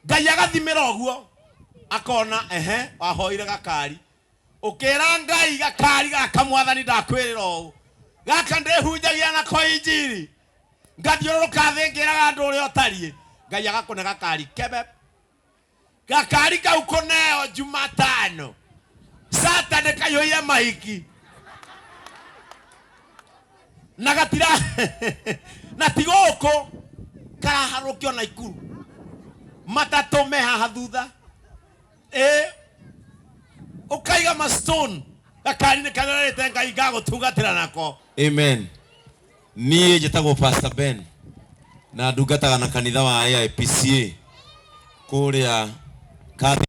ngai agathimira oguo akona ehe wahoire gakari ukira ngai gakari gaka mwathani ndakwirira uu gaka ndihunjagia nako injiri ngathiũrũrũka thĩ ngĩraga andũ ũrĩa ũtariĩ ngai agakũne gakari kebe gakari kau kũneo jumatano sata nĩkaihũire mahiki na gatira na ti gũkũ karaharũkio na ikuru matatũ me haha thutha ĩ ũkaiga mastone gakari-inĩ karĩa ũrerĩte ngai ngagũtungatĩra nako amen niĩ njĩtagwo pastor ben na ndungataga na kanitha wa aipca kũrĩa Catholic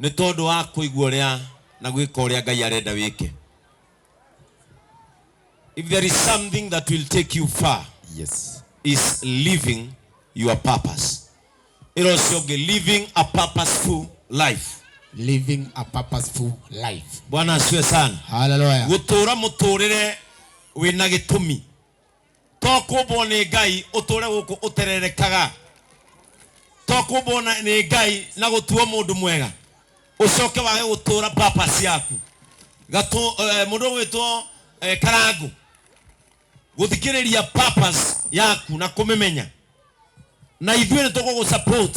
Nĩ tondũ wa kũigua ũrĩa na gwĩka ũrĩa Ngai arenda wĩke. If there is something that will take you far Yes. is living your purpose. Ĩra ũcio ũngĩ living a purposeful life. Living a purposeful life. Bwana asiwe sana. Hallelujah. Gũtũũra mũtũũrĩre wĩna gĩtũmi. to kumbwo nĩ ngai ũtũre gũkũ ũtererekaga to kumbwo na- nĩ ngai na gũtuo mũndũ mwega ũcoke wage gũtũra purpose yaku gatũ eh, mũndũ ũgwĩtwo eh, karangũ gũthikĩrĩria purpose yaku na kũmĩmenya na ithuĩ nĩ tũgũgũ support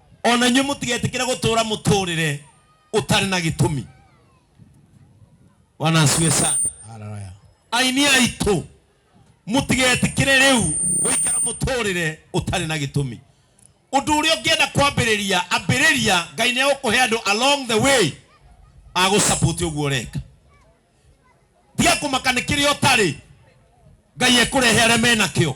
O na inyuĩ mũtigetĩkĩre gũtũũra mũtũũrĩre ũtarĩ na gĩtũmi. Bwana asifiwe sana. Haleluya. Aini aitũ, mũtigetĩkĩre rĩu gũikara mũtũũrĩre ũtarĩ na gĩtũmi. Ũndũ ũrĩa ũngĩenda kwambĩrĩria, ambĩrĩria, Ngai nĩ egũkũhe andũ along the way a gũsupport ũguo ũreka. Tiga kũmaka nĩ kĩrĩa ũtarĩ, Ngai ekũrehe arĩa menakĩo.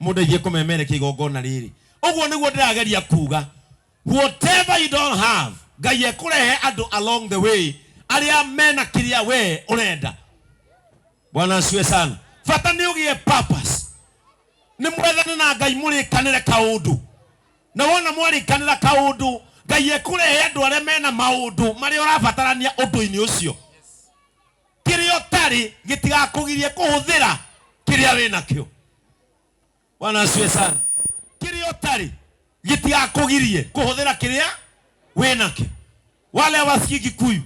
Mũndeithie kũmemerekia igongona rĩrĩ. Ũguo nĩguo ndĩrageria kuuga. Whatever you don't have, Ngai ekũrehe andũ along the way arĩa mena kĩrĩa we ũrenda. Bwana asifiwe sana. Bata nĩ ũgĩe purpose. Nĩ mwethane na Ngai mũrĩkanĩre kaũndũ. Na wona mwarĩkanĩra kaũndũ, Ngai ekũrehe andũ arĩa mena maũndũ marĩa ũrabatarania ũndũ-inĩ ũcio. kĩrĩa ũtarĩ gĩtigakũgirie kũhũthĩra kĩrĩa wĩ nakĩo bwana asiwe sana kĩrĩa ũtarĩ gĩtigakũgirie kũhũthĩra kĩrĩa wĩ nakĩo wale wasikii kikuyu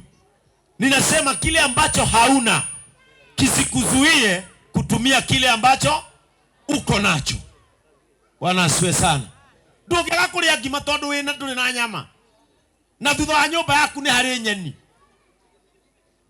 ninasema kile ambacho hauna kisikuzuie kutumia kile ambacho uko nacho bwana asiwe sana ndũngĩaga kũrĩa ngima tondũ wĩna ndũrĩ na nyama na thutha wa nyũmba yaku nĩ harĩ nyeni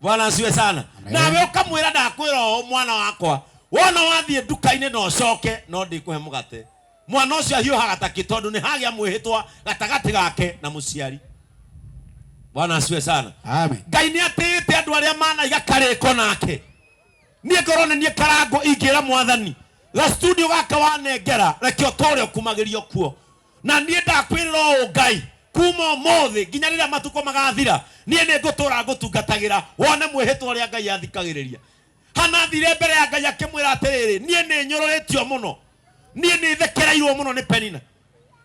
bwana asiwe sana Amen. nawe ukamwira ndakwira oo mwana wakwa wona wathiĩ nduka-inĩ na ũcoke no ndĩkũhe mũgate mwana ũcio ahiũhaga takĩ tondũ nĩ hagĩa mwĩhĩtwa gatagatĩ gake na mũciari bwana asiwe sana Amen. ngai nĩ atĩĩte andũ arĩa manaiga karĩko nake niĩ ngorwo nĩ niĩ karango ingĩra mwathani ga studio gaka wanengera reke ũtũũre ũkumagĩrio kuo Na niĩ ndakwĩrĩra ũũ, Ngai, kuuma ũmũthĩ nginya rĩrĩa matukũ magaathira, niĩ nĩngũtũũra ngũtungatagĩra, wone mwĩhĩtwa ũrĩa Ngai athikagĩrĩria. Hana athiire mbere ya Ngai akĩmwĩra atĩrĩrĩ, Niĩ nĩnyũrũrĩtio mũno. Niĩ nĩthekereirwo mũno nĩ Penina.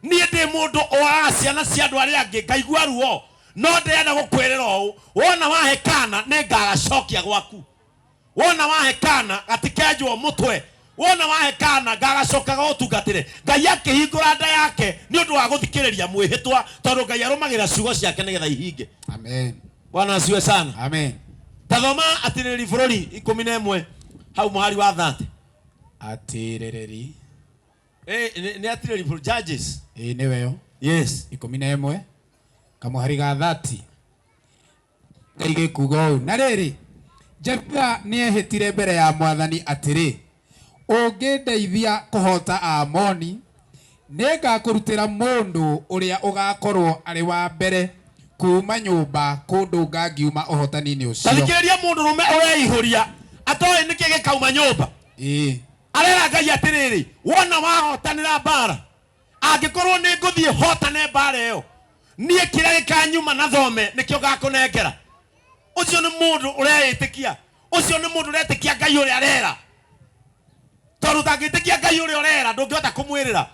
Niĩ ndĩ mũndũ ũagaga ciana cia andũ arĩa angĩ, ngaigua ruo. No ndĩrenda gũkwĩrĩra ũũ, Wona wahe kaana, nĩngagacokia gwaku. wona wahe kana gatikenjwo mũtwe wona wahe kana gagacokaga ũtungatĩre ngai akĩhingũra nda yake nĩ ũndũ wa gũthikĩrĩria mwĩhĩtwa tondũ ngai arũmagĩra ciugo ciake nĩgetha ihinge Amen. bwana asiwe sana Amen. tathoma atirĩrĩ bũrũri ikũmi na ĩmwe hau mũhari wa thate Atĩrĩrĩri. nĩ atirĩrĩ bũrũri judges Ĩĩ nĩwe yo. yes Ikũmi na ĩmwe. Kamũhari ga thati. Ngai gĩkuuga ũũ, Na rĩrĩ, Jefitha nĩehĩtire mbere ya mwathani atĩrĩ, Ũngĩndeithia kũhoota Aamoni, nĩngakũrutĩra mũndũ ũrĩa ũgaakorwo arĩ wa mbere kuuma nyũmba kũndũnga ngiuma ũhootani-inĩ Ta ũcio. thikĩrĩria mũndũrũme ũreihũria, atooĩ nĩkĩ gĩkauma nyũmba. Ĩĩ. Areera Ngai atĩrĩrĩ, Wona wahootanĩra mbaara, angĩkorwo nĩ ngũthiĩ hotane mbara ĩyo niĩ kĩrĩa gĩkanyuma na thome nĩkĩo gakũnengera ũcio nĩ mũndũ ũreĩtĩkia ũcio nĩ mũndũ ũretĩkia ngai ũrĩa arera tondũ ũtangĩtĩkia ngai ũrĩa ũrera ndũngĩhota kũmwĩrĩra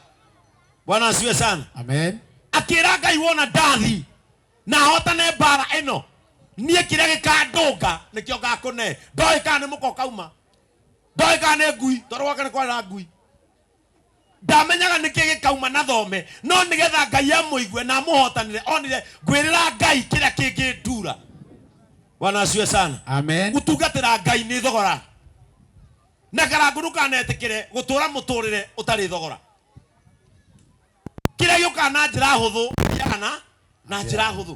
bwana asiwe sana Amen. akĩra ngai wona ndathi na hotane mbara ĩno niĩ kĩrĩa gĩkandũnga nĩkĩo ngakũne ndoĩ kana nĩ mũko kauma ndoĩ kana nĩ ngui tondũ gwake nĩ kwarĩra ngui Ndamenyaga nĩkĩ gĩkauma na thome, no nĩgetha Ngai amũigue na amũhotanĩre onire ngwĩrĩra Ngai kĩrĩa kĩngĩnduura. Bwana asifiwe sana. Amen. Gũtungatĩra Ngai nĩ thogora. Na karangũ ndũkanetĩkĩre gũtũũra mũtũũrĩre ũtarĩ thogora. Kĩrĩa gĩũkaga na njĩra hũthũ gĩthiaga na na njĩra hũthũ.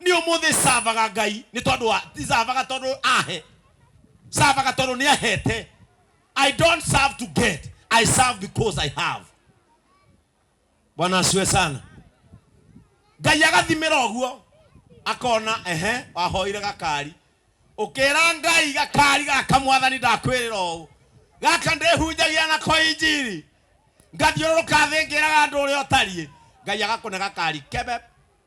ni umuthi savaga ngai ni tondu wa ti savaga tondu ahe savaga tondu ni ahete i don't serve to get i serve because i have bwana asiwe sana ngai agathimira uguo akona ehe wahoire gakari ukira ngai gakari gaka mwathani ndakwirira uu gaka ndihunjagia nako injiri ngathiũrũrũka thĩ ngĩraga andũ ũrĩa ũtariĩ ngai agakũne gakari kebe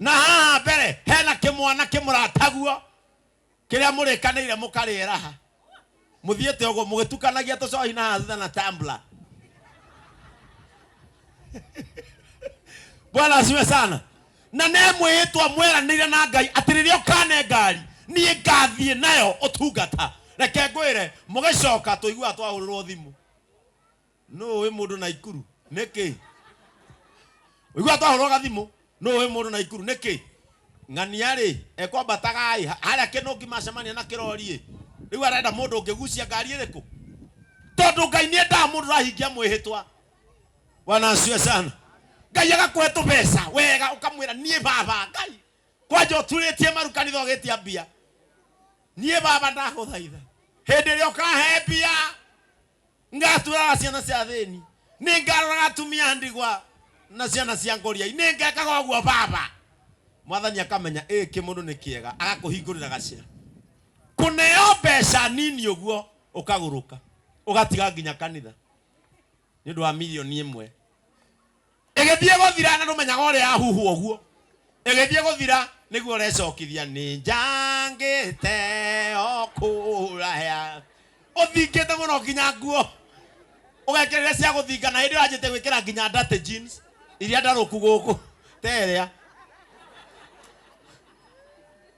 Na haha mbere hena kĩmwana kĩmũrataguo kĩrĩa mũrĩkanĩire mũkarĩeraha mũthiĩte ũguo mũgĩtukanagia tũcohi na haha thutha na tumbler. Bwana asiwe sana. Na nĩ mwĩhĩtwa mweranĩire na Ngai atĩ rĩrĩa ũkane ngari niĩ ngathiĩ nayo ũtungata. Reke ngwĩre mũgĩcoka tũiguaga twahũrĩrwo thimũ. nũ ũĩ mũndũ naikuru nĩkĩ ũigua twahũrwo gathimũ nũ ũĩ mũndũ naikuru nĩkĩ ng'ania rĩ ekwambataga ĩ harĩa kĩnũngi macemania na kĩrori ĩ rĩu arenda mũndũ ũngĩgucia ngari ĩrĩkũ tondũ ngai nĩ endaga mũndũ ũrahingia mwĩhĩtwa bwana asiwe sana ngai agakũhe tũbeca wega ũkamwĩra niĩ baba ngai kwanja ũturĩtie maru kanitha ũgĩtia mbia niĩ baba ndagũthaitha hĩndĩ ĩrĩa ũkahe mbia Ngaatũũraga ciana cia athĩĩni. Nĩngaaroraga atumia a ndigwa na ciana cia ngoriai. Nĩngeekaga ũguo Baba. Mwathani akamenya ĩĩ kĩmũndũ nĩ kĩega, agakũhingũrĩra gacĩra. Kũneo mbeeca nini ũguo, ũkagũrũka, ũgatiga nginya kanitha nĩ ũndũ wa mirioni ĩmwe. ĩgĩthiĩ gũthira na ndũmenyaga ũrĩa yahuhwo ũguo ĩgĩthiĩ gũthira nĩguo ũrecokithia nĩ njangĩte o kũraya ũthingĩte mũno nginya nguo ũgekerera cia gũthinga na hĩndĩ ĩyo wanjĩte gwĩkĩra nginya dirty jeans iria ndarũku gũkũ terĩa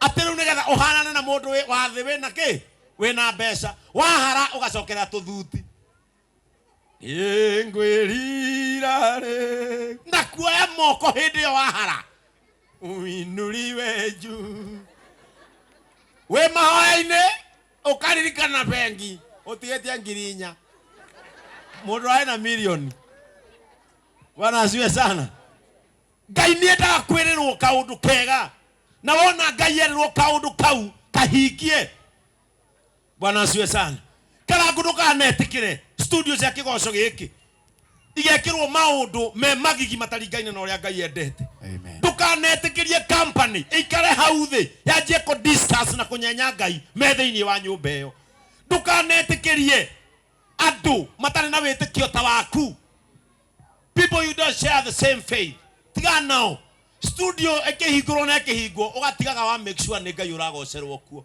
atĩ rĩu nĩgetha ũhanane na mũndũ wĩ- wa thĩ wĩna kĩ wĩna mbeca wahara ũgacokerera tũthuti nĩngwĩrira rĩ ngakuoya moko hĩndĩ ĩyo wahara uinuriwe juu wĩ mahoya-inĩ ũkaririkana bengi ũtigĩtie ngiri inya mũndũ arĩ na milioni bwana asiwe sana ngai nĩendaga kwĩrĩrwo kaũndũ kega na wona ngai erĩrwo kaũndũ kau kahingie bwana asiwe sana karangu ndukanetikire studio cia kigoco giki igekirwo maundu me magigi mataringaine na uria ngai endete Amen. ndukanetikirie company ikare hau thi yanjie ku discuss na kunyenya ngai me thiini wa nyumba iyo ndukanetikirie andu matari na witikio ta waku people you don't share the same faith tiga nao studio ikihingurwo na ikihingwo ugatigaga wa make sure ni ngai uragocerwo kuo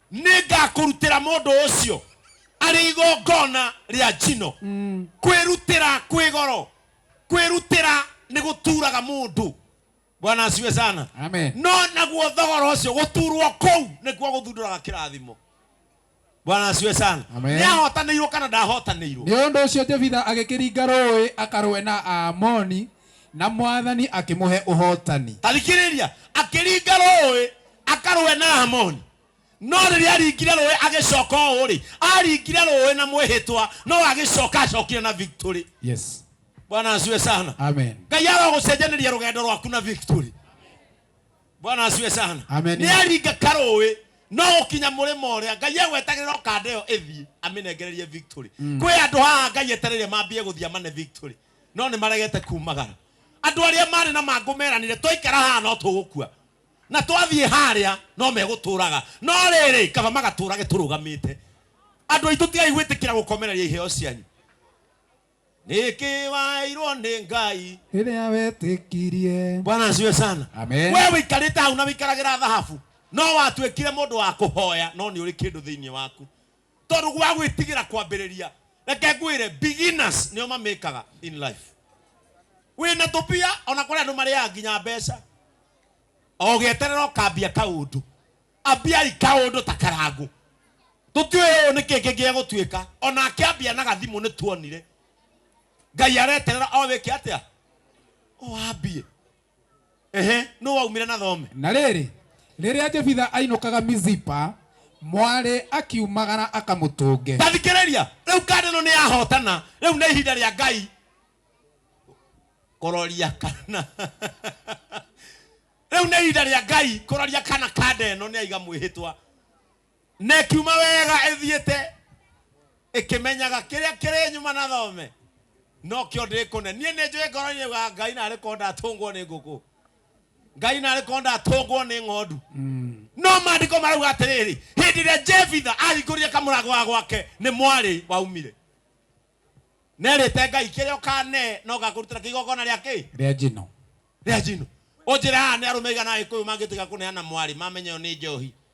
nĩ ngakũrutĩra mũndũ ũcio arĩ igongona rĩa njino kwĩrutĩra kwĩ goro kwĩrutĩra nĩ gũturaga mũndũ bwana aciwe sana Amen. no naguo thogora ũcio gũturwo kũu nĩkuo gũthundũraga kĩrathimo bwana aciwe sana Amen. nĩ ahotanĩirwo kana ndahotanĩirwo nĩ ũndũ ũcio jebitha agĩkĩringa rũĩ akarũe na aamoni Na mwathani akĩmũhe ũhootani. Athikĩrĩria, akĩringa rũũĩ akarũe na Aamoni. No rĩrĩa aaringire rũũĩ agĩcooka ũũ-rĩ, aaringire rũũĩ na mwĩhĩtwa, no agĩcooka acookire na victory. Yes. Bwana asiwe sana. Amen. Ngai arogũcenjanĩria rũgendo rwaku na victory. Bwana asiwe sana. Amen. Nĩ aringa karũũĩ, no gũkinya mũrĩmo ũrĩa, Ngai egwetagĩrĩra o kanda ĩyo ĩthiĩ, amĩnengererie victory. Kwĩ andũ haha Ngai etereire mambie gũthiĩ amane victory. no nĩ maregete kuumagara. Andũ arĩa maarĩ na mangũ meranire, 'Twaikara haha no tũgũkua, na twathiĩ harĩa no megũtũũraga. No rĩrĩ, kaba magatũũrage tũrũgamĩte. Andũ aitũ tigai gwĩtĩkĩra gũkomereria iheo cianyu. Nĩkĩ waheirwo nĩ Ngai? Rĩrĩa wetĩkirie. Bwana asifiwe sana. Amen. Wee ũikarĩte hau na ũikaragĩra thahabu, no watuĩkire mũndũ wa kũhoya, no nĩ ũrĩ kĩndũ thĩinĩ waku. Tondũ gwa gwĩtigĩra kwambĩrĩria, reke ngwĩre beginners nĩo ma make aga in life. Wĩna tũbia ona kũrĩ andũ marĩaga nginya mbeca. O ũgĩeterera ũkambia kaũndũ. Ambiai kaũndũ ta karangũ. Tũtiũĩ ũyũ nĩ kĩĩ kĩngĩ egũtuĩka. Ona akĩambia na gathimũ nĩ tuonire. Ngai areterera o wĩke atĩa? O ambie. Ehe, nũ waumire na thome? Na rĩrĩ, rĩrĩa Jefitha ainũkaga Mizipa, mwarĩ akiumagara akamũtũnge. Ta thikĩrĩria, rĩu kanda ĩno nĩ ya hotana, rĩu nĩ ihinda rĩa Ngai kũroria kana rĩu nĩ ihinda rĩa Ngai kũroria kana kanda ĩno nĩ yaiga mwĩhĩtwa. Na ĩkiuma wega ĩthiĩte, ĩkĩmenyaga kĩrĩa kĩrĩ nyuma na thome, nokĩo ndĩkũne. Niĩ nĩnjũĩ ngoro-inĩ yugaga Ngai narĩ korwo ndatũngwo nĩ ngũkũ, Ngai narĩ korwo ndatũngwo nĩ ng'ondu. No maandĩko marauga atĩrĩrĩ, hĩndĩ ĩrĩa Jefitha ahingũrire kamũrango ga gwake, nĩ mwarĩ waumire. Nerĩte Ngai, kĩrĩa ũkanee no ngakũrutĩra kĩ igongona rĩa kĩ? Rĩa njino. Rĩa njino. Ũnjĩre haha nĩ arũme aigana a Agĩkũyũ mangĩtĩkĩra kũneana mwarĩ mamenya ĩyo nĩ njohi?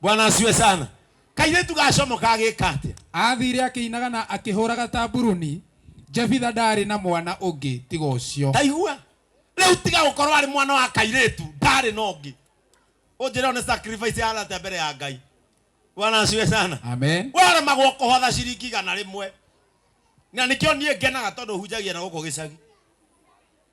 bwana asiwe sana kairetu gacomo kagika atia athire akĩinaga na akĩhũraga tamburuni jebitha ndaarĩ na mwana ũngĩ tiga ũcio taigua riu tiga gukorwo ari mwana wa kairetu ndari na ungi unjira one sacrifice yarate mbere ya ngai bwana asiwe sana amen waremagwo kuhotha ciringi igana rimwe na nikio nie ngenaga tondu hunjagia na guku gicagi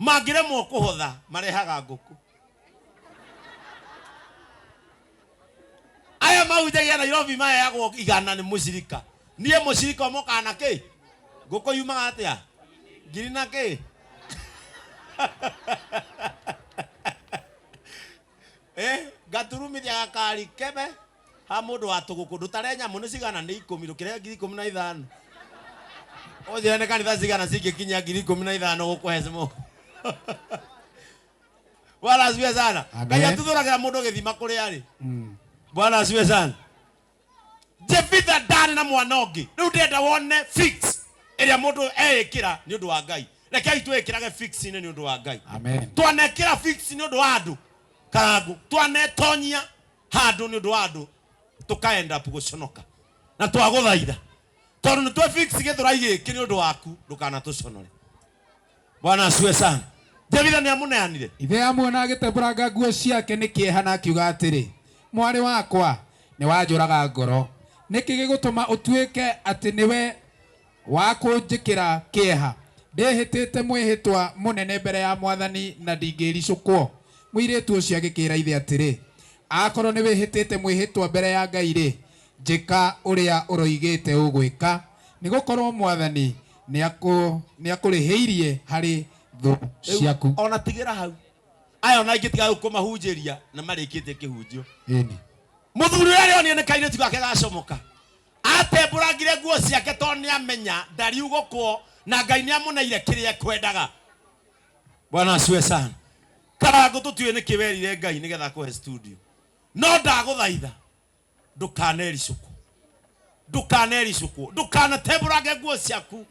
Mangĩremwo kũhotha, marehaga ngũkũ. Aya mahunjagia Nairobi maheyagwo igana nĩ mũcirika. Niĩ mũcirika ũmwe ũkaga na kĩ? Ngũkũ yumaga atĩa? Ngiri na kĩ? Eh, ngaturumithia gakari kebe. Ha mũndũ wa tũgũkũ ndũtare nyamũ nĩ cigana nĩ ikũmi ndũkĩre ngiri ikũmi na ithano ũnjĩre nĩ kanitha cigana cingĩkinyia ngiri ikũmi na ithano gũkũhe cimũ bwana asifiwe sana Amen. ngai atuthũragĩra mũndũ gĩthima kũrĩa arĩ Mm. bwana asifiwe sana jefitha ndarĩ na mwana ũngĩ rĩu ndĩrenda wone fix ĩrĩa mũndũ eĩkĩra nĩ ũndũ wa ngai rekei twĩkĩrage fix-inĩ nĩ ũndũ wa ngai Amen. twanekĩra fix nĩ ũndũ wa andũ karangũ twanetonyia handå nä å ndå wa andå tå ka end up gå conoka na twagå thaitha tondå nä twefix gä thå rai gä kä nä å ndå waku ndå kana tå conore bwana acue sana jebitha nä amå neanire ithe amuona agĩtembũranga nguo ciake nĩ kĩeha na akiuga atĩrĩ mwarĩ wakwa nĩwanjũraga ngoro nĩkĩ gĩgũtũma ũtuĩke atĩ nĩwe Wa kũnjĩkĩra kĩeha. Ndĩhĩtĩte mwĩhĩtwa mũnene mbere ya mwathani na ndingĩricũkwo. Mũirĩtu ũcio agĩkĩĩra ithe atĩrĩ, Akorwo nĩwĩhĩtĩte mwĩhĩtwa mbere ya Ngai-rĩ, njĩka ũrĩa ũroigĩte ũgwĩka, nĩgũkorwo mwathani nĩakũrĩhĩirie harĩ thũ Rĩu ciaku. o na tigĩra hau. Aya o na aingĩ tiga rĩu kũmahunjĩria na marĩkĩtie kĩhunjio. Mũthuri ũyũ arĩ onire nĩ kairĩtu gake gacomoka, Aatembũrangire nguo ciake tondũ nĩamenya ndariugũkwo na Ngai nĩamũneire kĩrĩa ekwendaga. Bwana asiwe sana. Karangũ tũtiũĩ nĩkĩ werire Ngai nĩgetha akũhe studio. No ndagũthaitha ndũkanericũkwo. Ndũkanericũkwo. Ndũkanatembũrange nguo ciaku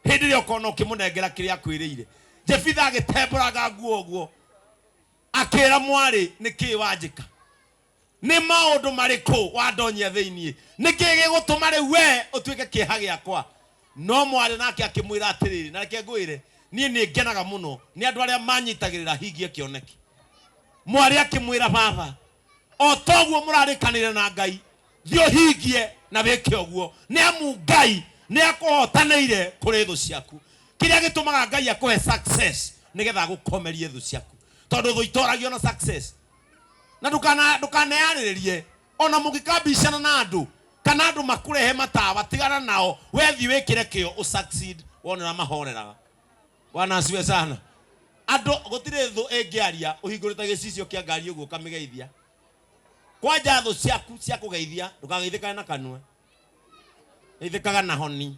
hĩndĩ ĩrĩa ũkona ũkĩmũnengera kĩrĩa akwĩrĩire. Jefitha agĩtembũranga nguo ũguo akĩra mwarĩ nĩkĩ wanjĩka. nĩ maũndũ marĩkũ wandonyia thĩinĩ nĩkĩ gĩgũtũma rĩu we ũtuĩke kĩeha gĩakwa no mwarĩ nake akĩmwĩra atĩrĩrĩ na reke ngwĩre niĩ nĩ ngenaga mũno nĩ andũ arĩa manyitagĩrĩra hingie kĩoneki mwarĩ akĩmwĩra baba o toguo mũrarĩkanĩire na ngai thiĩ ũhingie na wĩke ũguo nĩ amu ngai nĩ akũhotanĩire kũrĩ thũ ciaku kĩrĩa gĩtũmaga ngai akũhe success nĩgetha agũkomerie thũ ciaku tondũ thũ itoragio na success na ndũkana- ndũkanearĩrĩrie ona mũngĩkambicana na andũ kana andũ makũrehe matawa tigana nao wethi wĩkĩre kĩo ũ succeed wonera mahoreraga bwana asiwe sana andũ gũtirĩ thũ ĩngĩaria ũhingũrĩte gĩcicio kĩa ngari ũguo ũkamĩgeithia kwanja thũ ciaku cia kũgeithia ndũkageithĩkane na kanua geithĩkaga na honi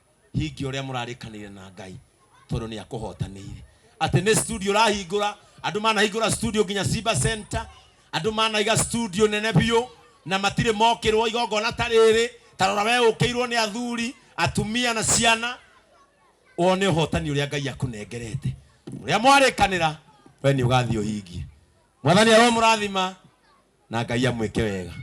hingia ũrĩa mũrarĩkanĩire na ngai tondũ nĩ akũhotanĩire atĩ nĩ studio ũrahingũra andũ manahingũra studio nginya simba center andũ manaiga studio nene biũ na matirĩ mokĩrwo igongona ta rĩrĩ tarora we ũkĩirwo nĩ athuri atumia na ciana wone ũhotani ũrĩa ngai akũnengerete ũrĩa mwarĩkanĩra we nĩ ũgathiĩ ũhingie mwathani aromũrathima na ngai amwĩke wega